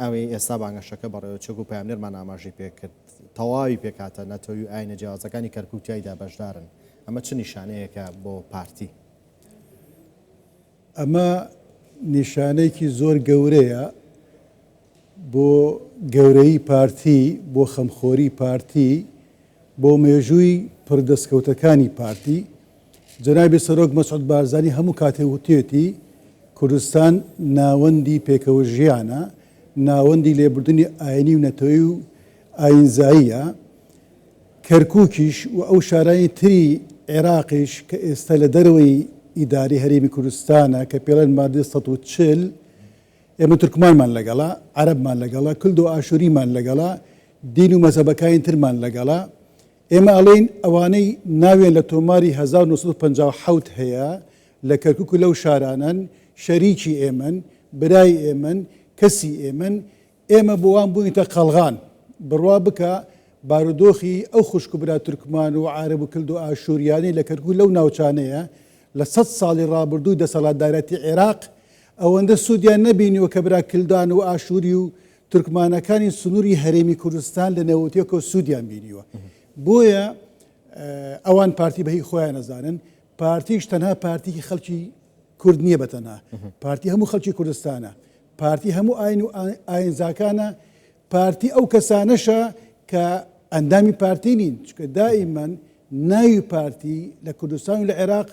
ئەوەی ئێستا بانگەشەکە بەڕێوەچووەک و پەیامنێرمان ئاماژەی پێکرد، تەواوی پێکهاتە نەتەوی و ئایینە جیاوازەکانی کەرکووک تیایدا بەشدارن، ئەمە چ نیشانەیەکە بۆ پارتی؟ ئەمە نیشانەیەکی زۆر گەورەیە بۆ گەورەیی پارتی، بۆ خەمخۆری پارتی، بۆ مێژووی پڕ دەستکەوتەکانی پارتی، جەنابی سەرۆک مەسعود بارزانی هەموو کاتێک وتویەتی، کوردستان ناوەندی پێکەوەژیانە، ناوەندی لێبوردنی ئاینی و نەتەوەی و ئاینزاییە، کەرکوکیش و ئەو شارانی تری عێراقیش کە ئێستا لە دەرەوەی ئیدارەی هەرێمی کوردستانە کە پێڵێن مادەی سەد و چل ئێمە تورکمانمان لەگەڵە، عەرەبمان لەگەڵە، کلد و ئاشووریمان لەگەڵە، دین و مەزهەبەکاین ترمان لەگەڵە. ئێمە ئەڵێین ئەوانەی ناویان لە تۆماری هەزار و نۆ سەد و پەنجا و حەوت هەیە لە کەرکووک و لەو شارانەن، شەریکی ئێمەن، برای ئێمەن، کەسی ئێمەن. ئێمە بۆ وان بووینەتە قەڵغان. بڕوا بکە بارودۆخی ئەو خوشک و برا تورکمان و عارەب و کلد و ئاشووریانەی لە کەرکووک و لەو ناوچانەیە لە سەد ساڵی ڕابردووی دەسەڵاتدارەتی عێراق، ئەوەندە سوودیان نەبینیوە کە برا کلدان و ئاشووری و تورکمانەکانی سنووری هەرێمی کوردستان لە نەوەتییەکەوە سوودیان بینیوە. بۆیە ئەوان پارتی بە هی خۆیان نەزانن. پارتیش تەنها پارتیی خەڵکی کورد نییە بە تەنها. پارتی هەموو خەڵکی کوردستانە. پارتی هەموو ئاین و ئاینزاکانە. پارتی ئەو کەسانەشە کە ئەندامی پارتی نین. چونکە دائیمەن ناوی پارتی لە کوردستان و لە عێراق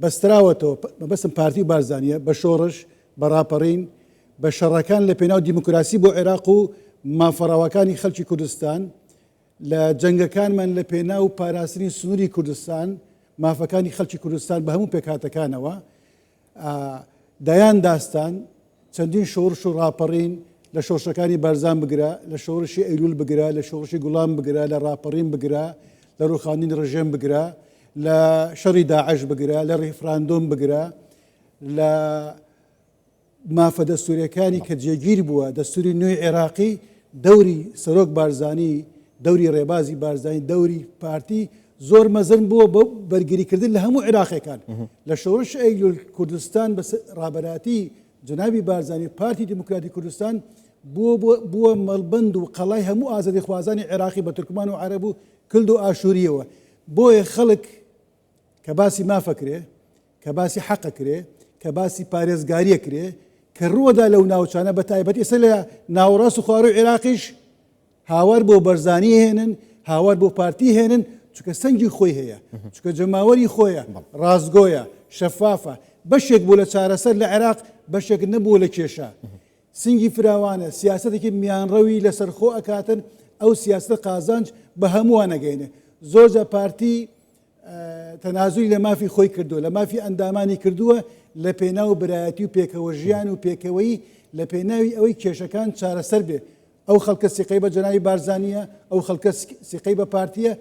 بەستراوەتەوە، مەبەستم پارتی و بارزانییە، بە شۆڕش، بە ڕاپەڕین، بە شەڕەکان لە پێناو دیموکراسی بۆ عێراق و مافە ڕەواکانی خەڵکی کوردستان، لە جەنگەکانمان لە پێناو پاراستنی سنووری کوردستان، مافەکانی خەڵکی کوردستان بە هەموو پێکهاتەکانەوە. ئا دەیان داستان، چەندین شۆڕش و ڕاپەڕین، لە شۆڕشەکانی بارزان بگرە، لە شۆڕشی ئەیلوول بگرە، لە شۆڕشی گوڵان بگرە، لە ڕاپەڕین بگرە، لە ڕووخاندنی ڕژێم بگرە، لە شەڕی داعش بگرە، لە ڕیفراندۆم بگرە، لە مافە دەستوورەکانی کە جێگیر بووە، دەستووری نوێی عێراقی، دەوری سەرۆک بارزانی، دەوری ڕێبازی بارزانی، دەوری پارتی، زۆر مەزن بووە بۆ بەرگریکردن لە هەموو عێراقیەکان لە شۆڕش ئەیلول کوردستان بە ڕابەراتی جنابی بارزانانی پارتی دیموکراتی کوردستان بووە مەڵبند و قەڵای هەموو ئازادی خوازانی عێراقی بە تورکمان و عرب و کلد و ئاشووریەوە بۆیە خەڵک کە باسی مافەکرێ کە باسی حەقەکرێ کە باسی پارێزگاریە کرێ کە ڕووەدا لەو ناوچانە بە تایبەت ئێستا لە ناوەڕاست و خوارو عێراقیش هاوار بۆ بەرزانی هێنن هاوار بۆ پارتی هێنن چکە سەنگی خۆی هەیە چکە جەماوەری خۆیە ڕاستگۆیە شەفافە بەشێک بوو لە چارەسەر لە عێراق بەشێک نەبوو لە کێشە سنگی فراوانە سیاستێکی میانڕەوی لەسەر خۆ ئەکاتن ئەو سیاستە قازانج بە هەمووان نەگەینێ زۆرجە پارتی تەنازوی لە مافی خۆی کردو لە مافی ئەندامانی کردووە لە پێناو برایەتی و پێکەوە ژیان و پێکەوەی لە پێناوی ئەوەی کێشەکان چارەسەر بێ ئەو خەڵکە سیقەی بە جەنابی بارزانییە، ئەو خەڵکە سیقەی بە پارتییە،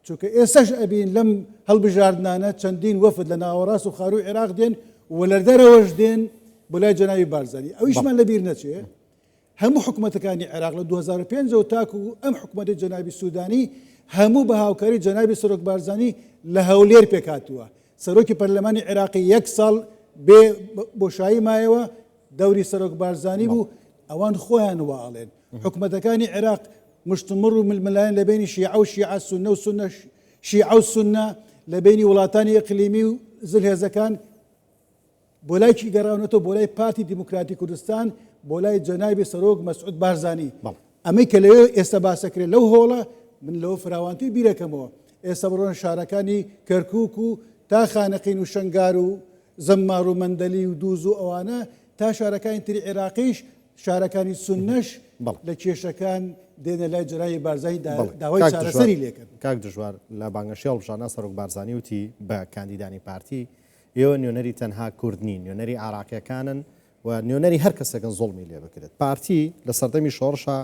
چونکە ئێستاش ئەبین لەم هەڵبژاردنانە چەندین وەفد لە ناوەڕاست و خارووی عێراق دێن و لە دەرەوەش دێن بۆ لای جەنابی بارزانی، ئەویشمان لەبیر نەچێ هەموو حکومەتەکانی عێراق لە دوو هەزار و پێنج و تاکو ئەم حکومەتی جەنابی سوودانی هەموو بە هاوکاری جەنابی سەرۆک بارزانی لە هەولێر پێکهاتووە، سەرۆکی پەرلەمانی عێراقی یەک ساڵ بێ بۆشایی مایەوە، دەوری سەرۆک بارزانی بوو ئەوان خۆیان وا ئەڵێن حکومەتەکانی عێراق مشتومڕ و ململایەن لە بینی شیعە و شیعە سونە و سونە شیعە و سونە لە بینی وڵاتانی ئەقلیمی و زلهێزەکان بۆ لای کی گەڕاونەتەوە بۆ لای پارتی دیموکراتی کوردستان بۆ لای جەنابی سەرۆک مەسعود بارزانی بەڵ ئەمەی کە لەوێ ئێستا باسەکرێ لەو هۆڵە من لەوە فراوانتر بیرەکەمەوە ئێستا بڕۆنە شارەکانی کەرکوک و تا خانەقین و شەنگار و زەممار و مەندەلی و دووز و ئەوانە تا شارەکانی تری عێراقیش شارەکانی سنەش لە کێشەکان دێنە لای جەنابی بارزانی داوای چارەسەری لێکرد کاک دژوار لە بانگەشی هەڵبژانا سەرۆک بارزانی وتی بە کاندیدانی پارتی ئێوە نوێنەری تەنها کورد نین نوێنەری عراقیەکانن و نوێنەری هەر کەسێکن زوڵمی لێ بکرێت. پارتی لە سەردەمی شۆڕشا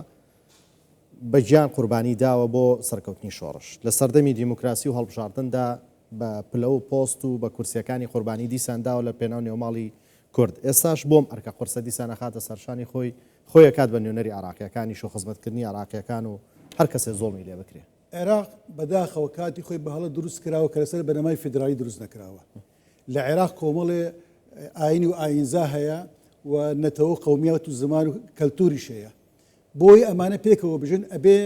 بە گیان قوربانی داوە بۆ سەرکەوتنی شۆڕش. لە سەردەمی دیموکراسی و هەڵبژاردندا بە پلە و پۆست و بە کورسیەکانی قوربانی دیسان داوە لە پێناو نێوماڵی کورد. ئێستاش بۆم ئەرکە قورسە دیسان ئەخاتە سەرشانی خۆی، خۆی ئەکات بە نوێنەری عێراقیەکانیش و خزمەتکردنی عێراقیەکان و هەر کەسێ زوڵمی لێ بکرێ. عێراق بە داخەوە کاتی خۆی بە هەڵە دروست کراوە کە لەسەر بنەمای فیدرالی دروست نەکراوە. لە عێراق کۆمەڵێ ئاینی و ئاینزا هەیە و نەتەوەو قەومیات و زمان و کەلتوریش هەیە بۆی ئەمانە پێکەوە بژن ئەبێ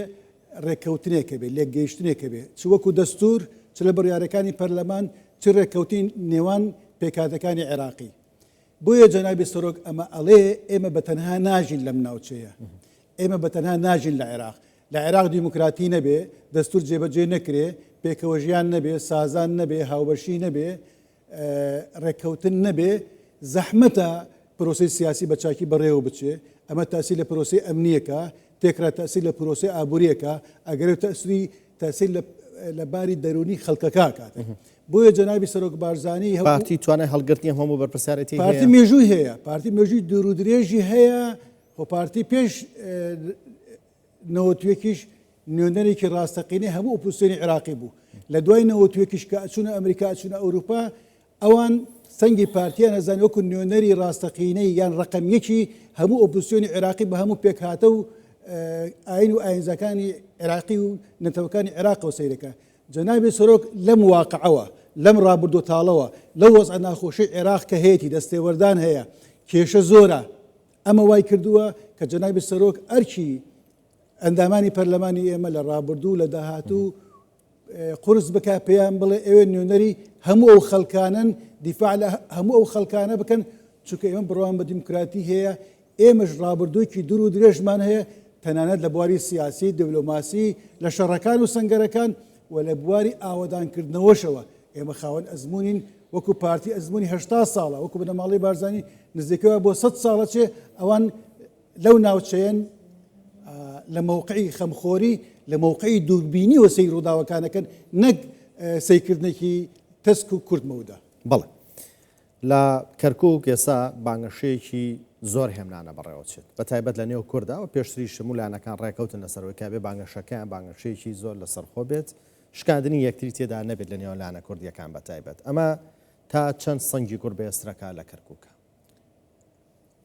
ڕێککەوتنێک هەبێ لێک گەیشتنێک هەبێ چ وەکو دەستور چ لە بڕیارەکانی پەرلەمان چ ڕێککەوتین نێوان پێکاتەکانی عێراقی بۆیە جەنابی سەرۆک ئەمە ئەڵێ ئێمە بە تەنها ناژین لەم ناوچەیە ئێمە بە تەنها ناژین لە عێراق لە عێراق دیموکراتی نەبێ، دەستور جێبەجێ نەکرێ، پێکەوەژیان نەبێ، سازان نەبێ، هاوبەشی نەبێ، رێککەوتن نەبێ، زەحمەتە پرۆسەی سیاسی بە چاکی بەڕێوە بچێ، ئەمە تاسیر لە پرۆسەی ئەمنییەکە تێکرا، تاسیر لە پرۆسەی ئابورییەکە ئەگەرێ و تاسری تاسیر لە لە باری دەرونی خەڵکەکە ئەکات. بۆیە جەنابی سەرۆک بارزانی هەوڵی. پارتی توانای هەڵگرتنی هەموو بەرپرسیارێتی هەیە؟ پارتی مێژووی هەیە، پارتی مێژووی دورودرێژی هەیە، خۆ پارتی پێش نەوەد و یەکیش نوێنەرێکی ڕاستەقینەی هەموو ئۆپۆزسیۆنی عێراقی بوو، لە دوای نەوەد و یەکیش کە ئەچوونە ئەمریکا ئەچوونە ئەوروپا ئەوان سەنگی پارتییان ئەزانی وەکو نوێنەری ڕاستەقینەی یان ڕەقەم یەکی هەموو ئۆپۆزسیۆنی عێراقی بە هەموو پێکهاتە و ئاین و ئاینزاکانی عێراقی و نەتەوەکانی عێراقەوە سەیرەکە جەنابی سەرۆک لەم واقعەوە لەم ڕابردوو تاڵەوە لەو وەزعە ناخۆشی عێراق کە هەیەی دەستێوەردان هەیە کێشە زۆرە ئەمە وای کردووە کە جەنابی سەرۆک ئەرکی ئەندامانی پەرلەمانی ئێمە لە ڕابردوو لە داهاتوو قرس بک پێیان بڵێ ئەوێ نوێنەری هەموو ئەو خەلکانن دیفاع لە هەموو ئەو خەلکانە بکەن چونکە ئێمە بڕوان بە دیموکراتی هەیە ئێمەش ڕابردووکی دوور و درێژمان هەیە تەنانەت لە بواری سیاسی دبلۆماسی لە شەڕەکان و سنگەرەکان و لە بواری ئاوەدانکردنەوەشەوە ئێمە خاوەن ئەزموونین، وەکو پارتی ئەزموونی هەشتا ساڵە، وەکو بنەماڵەی بارزانی نزیکەی وا بۆ سەد ساڵە چێ، ئەوان لەو ناوچەیەن لە مەوقعی خەمخۆری، لە مەوقعی دووربینیەوە سەیری ڕووداوەکان ئەکەن، نەک سەیرکردنێکی تەسک و کورت مەودا. بەڵێ. لە کەرکوک ئێستا بانگەشەیەکی زۆر هێمنانە بەڕێوەچێت بە تایبەت لە نێو کوردا و پێشتریش هەموو لایەنەکان ڕێکەوتن لەسەرەوەی کە ئەبێ بانگەشەکەیان بانگەشەیەکی زۆر لەسەرخۆ بێت شکاندنی یەکتری تێدا نەبێت لە نێوان لایەنە کوردییەکان بە تایبەت ئەمە تا چەند سەنگی گوڕ بەێسترەکە لە کەرکوکە.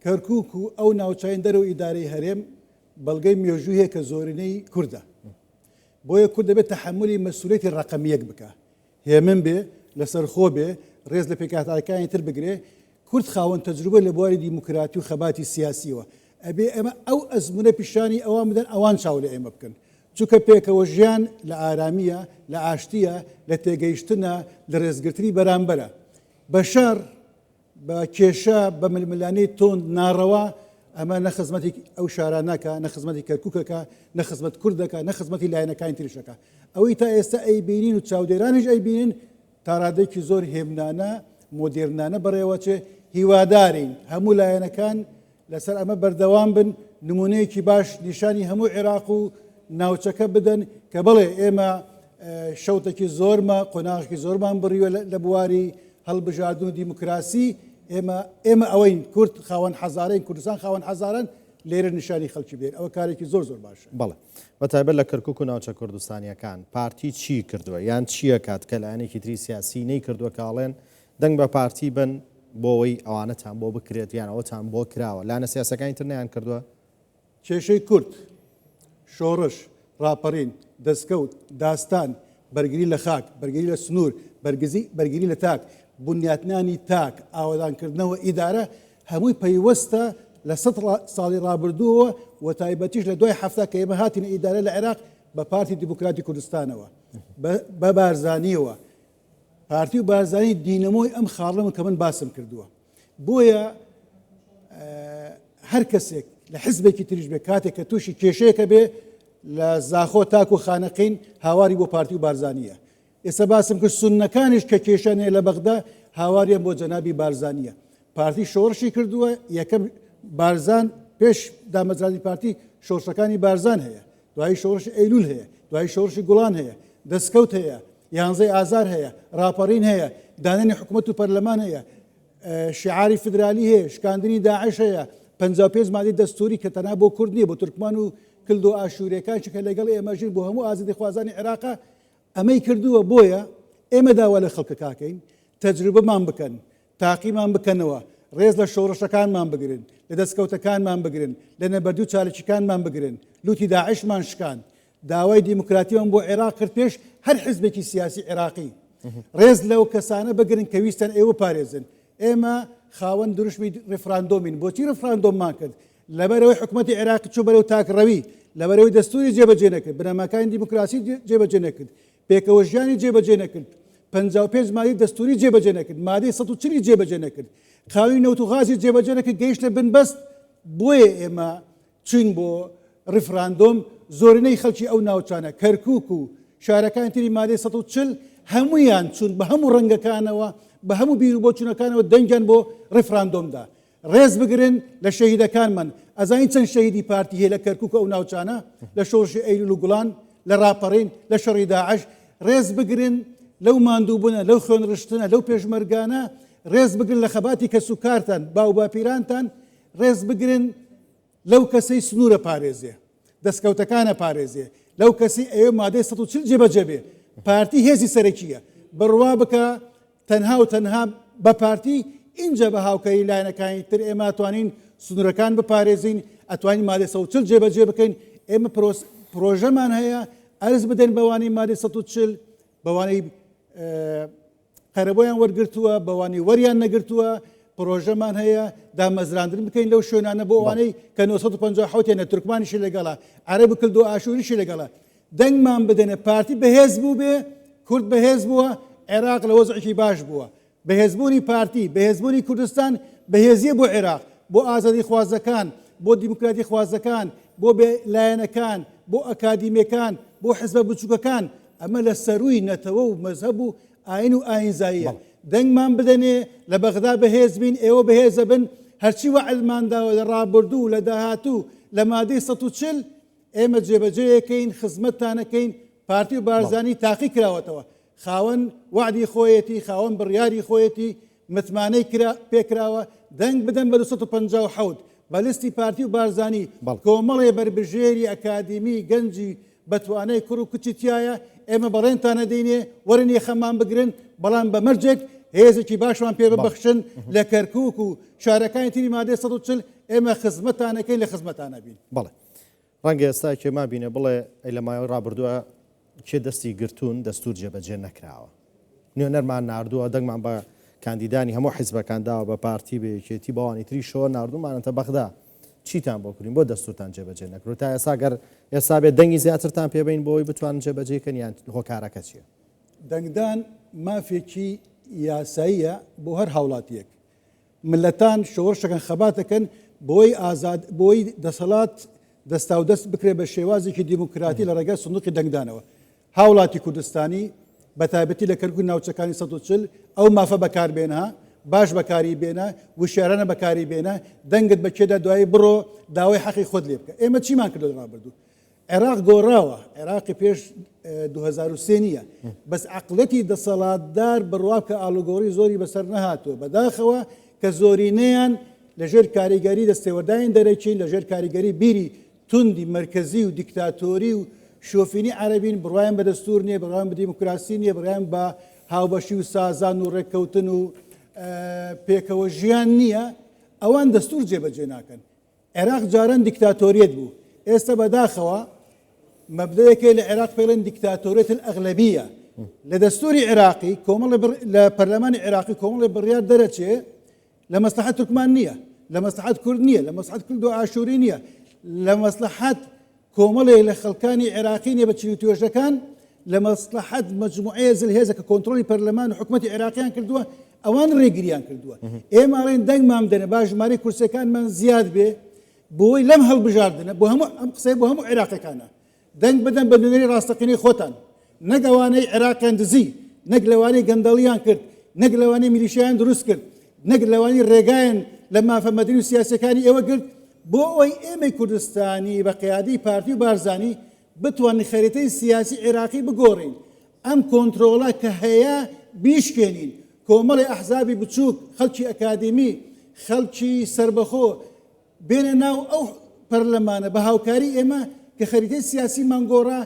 کەرکوک و ئەو ناوچین دەرەوە ئیدارەی هەرێم بەڵگەی مێژوویە کە زۆرینەی کوردە بۆیە کورد دەبێت تحملی مەسوولێتی ڕقمیەک بکە هێمن بێ، لەسەرخۆ بێ، رێز لە پێکهاتاکانی تر بگرێ، کورد خاوەن تەجروبە لە بواری دیموکراتی و خەباتی سیاسییەوە، ئەبێ ئێمە ئەو ئەزموونە پیشانی ئەوان بدەن، ئەوان چاو لە ئێمە بکەن، چونکە پێکەوە ژیان لە ئارامییە، لە ئاشتییە، لە تێگەیشتنە، لە رێزگرتنی بەرامبەرە. بەشەر بە کێشە، بە ململانێی توند، ناڕەوا، ئەمە نە خزمەتی ئەو شارانە ئەکا، نە خزمەتی کەرکوک ئەکا، نە خزمەت کورد ئەکا، نە خزمەتی لایەنەکانی تریش ئەکا. ئەوەی تا ئێستا ئەیبینین و چاودێرانیش ئەیبینن تاڕادەیەکی زۆر هێمنانە، مۆدێرنانە بەڕێوەچێ، هیوادارین هەموو لایەنەکان، لەسەر ئەمە بەردەوام بن، نموونەیەکی باش نیشانی هەموو عێراق و ناوچەکە بدەن کە بەڵێ ئێمە شەوتەکی زۆرمە قۆناغێکی زۆرمان بڕیوە لە بواری هەڵبژاردن و دیموکراسی ئێمە ئێمە ئەوەین کورد خاوەن حەزارەی کوردستان خاوەن حەزارن لێرە نیشانی خەڵکی بێن ئەوە کارێکی زۆر زۆر باشە بەڵێ بە تایبەت لە کەرکک و ناوچە کوردستانیەکان پارتی چی کردووە یان چییە کات کە لایەنێکی تری سیاسی نەی کردووە کاڵێن دەنگ بە پارتی بەن بۆوەی ئەوانەتان بۆ بکرێت یان ئەوەتان بۆ کراوە لانە سیاسەکانی تر نەیان کردوە؟ کێشەی کورد، شۆڕش، ڕاپەڕین، دەسکەوت، داستان، بەرگری لە خاک، بەرگری لە سنوور، بەرگزی، بەرگری لە تاک، بنیاتنانی تاک، ئاوەدانکردنەوە، ئیدارە، هەمووی پەیوەستە لە سەد ساڵی ڕابردووەوە و تایبەتیش لە دوای حەفتا کە ئێمە هاتینە ئیدارە لە عێراق بە پارتی دیموکراتی کوردستانەوە، بە بارزانییەوە، پارتی و بارزانی دینەمۆی ئەم خاڵەمە کە من باسم کردووە بۆیە هەر کەسێک لە حزبێکی تریش بێ کاتێک کە تووشی کێشەیەکە بێ لە زاخۆ تاکو خانەقین هاواری بۆ پارتی و بارزانیە ئێستا باسم کرد سونەکانیش کە کێشانێ لە بەغدا هاواریان بۆ جەنابی بارزانیە پارتی شۆڕشی کردووە یەکەم بارزان پێش دامەزرانی پارتی شۆڕشەکانی بارزان هەیە دوایی شۆڕشی ئەیلول هەیە، دوایی شۆڕشی گوڵان هەیە، دەسکەوت هەیە، یانزەی ئازار هەیە، ڕاپەڕین هەیە، دانانی حکومەت و پەرلەمان هەیە، شیعاری فیدرالی هەیە، شکاندنی داعش هەیە، پەنجا و پێنج مادەی دەستووری کە تەنها بۆ کورد نییە، بۆ تورکمان و کلد و ئاشوورێکانشی کە لەگەڵ ئێمە ژین، بۆ هەموو ئازادیخوازانی عێراقە، ئەمەی کردووە، بۆیە ئێمە داوا لە خەڵکەکاکەین تەجروبەمان بکەن، تاقیمان بکەنەوە، ڕێز لە شۆڕشەکانمان بگرن، لە دەستکەوتەکانمان بگرن، لە نەبەردی و چاالکیکانمان بگرن، لووتی داعشمان شکاند، داوای دیموکراتیمان بۆ عێراق کرد پێش هەر حزبێکی سیاسی عێراقی، ڕێز لەو کەسانە بگرن کە ویستیان ئێوە بپارێزن، ئێمە خاوەن دروشمی ڕیفراندۆمین، بۆچی ڕیفراندۆممان کرد؟ لەبەرئەوەی حکومەتی عێراق چوو بەرەو تاکڕەوی، لەبەرئەوەی دەستوری جێبەجێ نەکرد، بنەماکانی دیموکراسی جێبەجێ نەکرد، پێکەوەژیانی جێبەجێ نەکرد، پەنجا و پێنج مادەی دەستووری جێبەجێ نەکرد، مادەی سەد و چل ی جێبەجێ نەکرد، قانوونی نەوت و غازی جێبەجێ نەکرد، گەیشتە بنبەست بۆیە ئێمە چووین بۆ ڕیفراندۆم، زۆرینەی خەڵکی ئەو ناوچانە، کەرکووک و شارەکانی تری مادەی سەد و چل هەموویان چوون بە هەموو ڕەنگەکانەوە، بە هەموو بیروبۆچوونەکانەوە دەنگیان بۆ ڕیفراندۆم دا. ڕێز بگرن لە شەهیدەکانمان ئەزانین چەند شەهیدی پارتی هەیە لە کەرکک ئەو ناوچانە لە شۆڕشی ئەیلول و گوڵان لە ڕاپەڕین لە شەڕی داعش ڕێز بگرن لەو ماندووبوونە لەو خوێن ڕشتنە لەو پێشمەرگانە ڕێز بگرن لە خەباتی کەس و کارتان باو باپیرانتان ڕێز بگرن لەو کەسەی سنوورە پارێزێ دەستکەوتەکانە پارێزێ لەو کەسی ئەوێ مادەی 140 جێبەجێبێ پارتی هێزی سەرەکیە بڕوا بکە تەنها و تەنها بە پارتی ئینجا بە هاوکاری لایەنەکانی تر ئێمە ئەتوانین سنوورەکان بپارێزین ئەتوانین مادەی سەد و چل جێبەجێ بکەین ئێمە پرۆس پرۆژەمان هەیە ئەرز بدەین بەوانەی مادەی سەد و چل بەوانەی قەرەبۆیان وەرگرتووە بەوانەی وەریان نەگرتووە پرۆژەمان هەیە دامەزراندن بکەین لەو شوێنانە بۆ ئەوانەی کە 1950 حوتێنە تورکمانیشی لەگەڵە عەرەبی کردو ئاشووریشی لەگەڵە دەنگمان بدەنێ پارتی بەهێز بووبێ کورد بەهێز بووە عێراق لە وەزعێکی باش بووە بەهێزبوونی پارتی بەهێزبوونی کوردستان بەهێزیە بۆ عێراق بۆ ئازادی خوازەکان بۆ دیموکراتی خوازەکان بۆ بێ لایەنەکان بۆ ئەکادیمەکان بۆ حزبە بچووکەکان ئەمە لە سەروی نەتەوە و مەزهب و ئاین و ئاینزاییە دەنگمان بدەنێ لە بەغدا بەهێز بین ئێوە بەهێزە بن هەرچی وەعلمانداوە لە ڕابردوو لە داهاتوو لە مادەی 140 ئێمە جێبەجێیەکەین خزمەتتانەکەین پارتی و بارزانی تاقی کراوەتەوە خاوەن وعدی خۆیەتی خاوەن بڕیاری خۆیەتی متمانەی کرا پێکراوە دەنگ بدەن بە 1950 بەلستی پارتی و بارزانی کۆمەڵێ بەربژێری ئەکادیمی گەنجی بەتوانای کوڕ و کچی تایە ئێمە بەڵێنتانە دەینێ وەرن یەخەمان بگرن بەڵام بە مەرجێک هێزێکی باشمان پێ ببەخشن لە کەرکک و شارەکانی تری مادە 140 ئێمە خزمەتانەکەی لە خزمەتانە بین بەڵێ ڕەنگە ئێستا کێ مابینێ بڵێ ئەی لە مایەوەی ڕابردووە کێ دەستی گرتوون دەستور جێبەجێ نەکراوە نوێنەرمان نردووە دەنگمان بە کاندیدانی هەموو حیزبەکان داوە بە پارتی بەیەکێتی بەوانی تریشەوە نردومانەتە بەغدا چیتان بۆ کرین بۆ دەستورتان جێبەجێ نەکرو تا ئێستا گەر ئێستا بێت دەنگی زیاترتان پێبین بۆی بتوان جێبەجێکەن یان هۆکارەکە چیە دەنگدان مافێکی یاساییە بۆ هەر هاوڵاتیەک ملتان شۆڕشەکەن خەباتەکەن بۆی ئازاد بۆی دەسەڵات دەستاودەست بکرێت بە شێوازێکی دیموکراتی لە ڕێگای سندوقی دەنگدانەوە هاوڵاتی کوردستانی بە تایبەتی لە کەرکک ناوچەکانی 140 ئەو مافە بەکاربێنە باش بەکاری بێنە وشارانە بەکاری بێنە دەنگت بە کێدا دوایی بڕۆ داوای حەقی خۆت لێ بکە ئێمە چیمان کردو ڕابردوو عێراق گۆڕاوە عێراقی پێش دوو هەزار و سێ نییە بەس عەقڵەتی دەسەڵاتدار بڕوا بکە ئاڵوگۆڕی زۆری بەسەر نەهاتووە بەداخەوە کە زۆرینەیان لەژێر کاریگەری دەستێوەرداین دەرەکین لەژێر کاریگەری بیری توندی مرکزی و دیکتاتۆری و شۆفینی عەربین بڕوایم بە دەستور نییە بڕوان بە دیموکراسی نییە بڕیان بە هاوبەشی و سازان و ڕێککەوتن و پێکەوە ژیان نییە ئەوان دەستور جێبەجێ ناکەن عێراق جاران دیکتاتۆریەت بوو، ئێستە بەداخەوە مەبدەیەکەی لە عێراق پێڵێن دیکتاتۆریەت ئەغلەبیە لە دەستوری عێراقی کۆمەڵ لە پەرلەمانی عێراقی کۆمەڵی بڕیار دەرەچێ لە مەسلحە تورکمان نییە لە مەسلحات کورد نییە لە مەسحات کورد و ئاشووری نییە لە مەسلحات کۆمەڵێک لە خەڵکانی عێراقی نێبە چل و توێژەکان لە مەسڵەحەت مەجموعەیە زلهێزە کە کۆنترۆڵی پەرلەمان و حکومەتی عێراقیان کردووە ئەوان ڕێگریان کردووە ئێمە ئەڵێن دەنگمان دەنە با ژمارەی کورسەکانمان زیاد بێ بۆی لەم هەڵبژاردنە بۆ هەموو ئەم قسەی بۆ هەموو عێراقەکانە دەنگ بدەن بە نوێنەری ڕاستەقینەی خۆتان نەک ئەوانەی عێراقیان دزی، نەک لەوانەی گەندەڵیان کرد، نەک لەوانەی میلیشیایان دروست کرد، نەک لەوانەی رێگایان لە مافە مەدەنی و سیاسیەکانی ئێوە گرت، بۆ ئەوەی ئێمەی کوردستانی بە قیادەی پارتی و بارزانی بتوانین خەریتەی سیاسی عێراقی بگۆڕین، ئەم کۆنترۆڵە کە هەیە بیشکێنین، کۆمەڵی ئەحزابی بچوک، خەڵکی ئەکادیمی، خەڵکی سەربەخۆ، بێنە ناو ئەو پەرلەمانە بە هاوکاری ئێمە کە خەریتەی سیاسیمان گۆڕا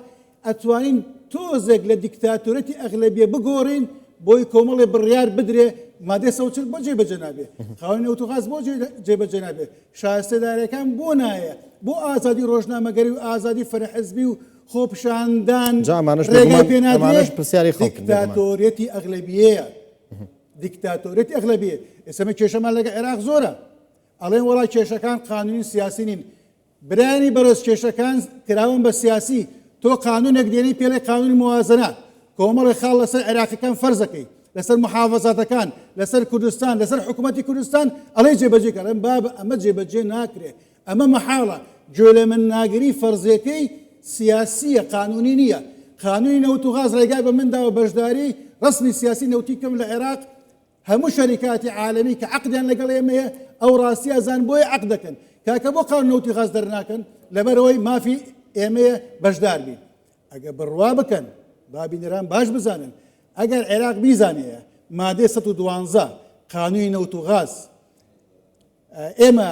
ئەتوانین تۆزێک لە دیکتاتۆرەتی ئەغلەبیە بگۆڕین بۆی کۆمەڵی بڕیار بدرێ مادە سەوچل بۆ جێبەجە نابێ خاوەنی ئۆتۆغاز بۆ جێبەجە نابێ شارستێدارەکان بۆ نایە بۆ ئازادی ڕۆژنامەگەری و ئازادی فەرحزبی و خۆپشاندان پرسیاری دیکتاتۆریەتی ئەغلبیەیە دیکتاتۆریەتی ئەغلبیە ئێسمە کێشەمان لەگە عێراق زۆرە ئەڵێن وەڵا کێشەکان قانونی و سیاسی نین برایانی بەڕێز کێشەکان کراون بە سیاسی تۆ قانونێک دێنی پێڵێ قانونی موازنە کۆمەڵی خاڵ لەسەر عێراقیەکان فەرزەکەی لەسەر محافزاتەکان لەسەر کوردستان لەسەر حکوومەتتی کوردستان ئەڵێ جێبەجێ کەڵێن باب ئەمە جێبەجێ ناکرێ ئەمە محاڵە گوێ لە من ناگری فەرزیەکەی سیاسیە قانونی نییە قانونی نەوت و غاز ڕێگای بە منداوە بەشداری ڕسمی سیاسی نەوتی کەم لە عێراق هەموو شەریکاتی عالەمی کە عقدیان لەگەڵ ئێمەیە ئەو ڕاستی ئەزان بۆی عق دەکەن کاکە بۆ قان نەوتی غاز دەرناکەن لەبەرەوەی مافی ئێمەیە بەشدار بین ئەگە بڕوا بکەن بابینەران باش بزانن ئەگەر عێراق بیزانەیە مادەی 112 قانونی نەوت و غاز ئێمە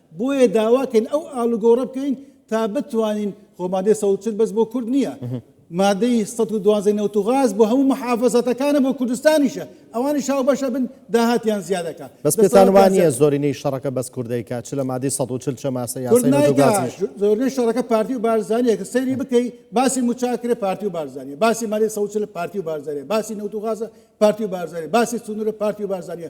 بۆیە داواکەین ئەو ئالوگۆڕە بکەین تا بتوانین خۆمادەی سەوچل بەس بۆ کورد نییە مادەی 112 نەوت و غاز بۆ هەموو محافزەتەکانە بۆ کوردستانیشە ئەوانی شاو بەشە بن داهاتیان زیادەکە بەس پێتانوانە زۆرینەی شەڕەکە بەس کوردەیکە چ لە مادەی 140 چە ماسە زۆرنەی شەڕەکە پارتی و بارزانانیە کە سەیری بکەی باسی مچاکرێ پارتی و بارزانانیە باسی مادەی سەوچل پارتی و بارزانانیە باسی نەوت و غازە پارتی و بارزانانیە باسی سنوورە پارتی و بارزانانیە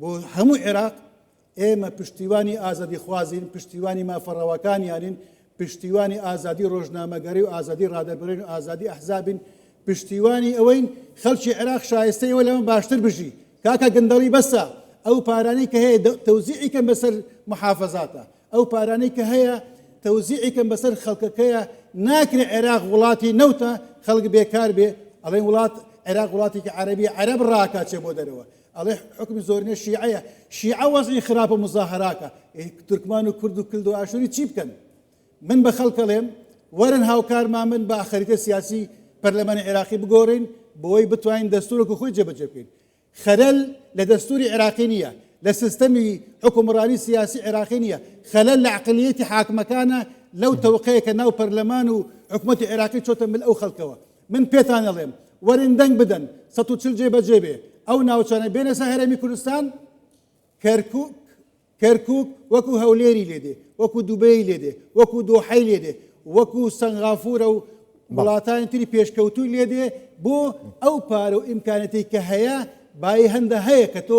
بۆ هەموو عێراق ئێمە پشتیوانی ئازادیخوازین پشتیوانی مافەڕەوەکانیانین پشتیوانی ئازادی ڕۆژنامەگەری و ئازادی ڕادەبرین و ئازادی ئەحزابین پشتیوانی ئەوەین خەڵکی عێراق شایستەی ئەوە لەمە باشتر بژی کاکە گەندەڵی بەسە ئەو پارانەی کە هەیە تەوزیعی کەم بەسەر محافظاتە ئەو پارانەی کە هەیە تەوزیعی کەم بەسەر خەڵکەکەیە ناکرێ عێراق وڵاتی نەوتە خەڵک بێکار بێ ئەڵێن وڵات عێراق وڵاتێکی عەربی عەرب ڕاکاچێ بۆ دەرەوە ئەڵێ حوکمی زۆرینە شیعەیە شیعە وەزعی خراپە مزاهراکە تورکمان و کورد و کلد و ئاشوری چی بکەن من بە خەڵکەڵێم وەرن هاوکارمان من بە خەریتە سیاسی پەرلەمانی عێراقی بگۆڕین بۆی بتوانین دەستورک و خۆی جێبەجێ بکەین خەلەل لە دەستوری عێراقی نییە لە سیستەمی حکومڕانی سیاسی عێراقی نییە خەلەل لە عقلیەتی حاکمەکانە لەو تەوقەیە کە ناو پەرلەمان و حکوومەتی عێراقی چۆتە مل ئەو خەڵکەوە من پێتان ئەڵێم وەرن دەنگ بدەن سەد و چل جێ بەجێ بێ ئەو ناوچانە بێنە سە هەرێمی کوردستان کەرکوک کەرکوک وەکو هەولێری لێدێ وەکو دوبەی لێدێ وەکو دۆحەی لێدێ وەکو سەنغافورە و وڵاتانی تری پێشکەوتوی لێدێ بۆ ئەو پارە و ئیمکانەتی کە هەیە بای هەندە هەیە کە تۆ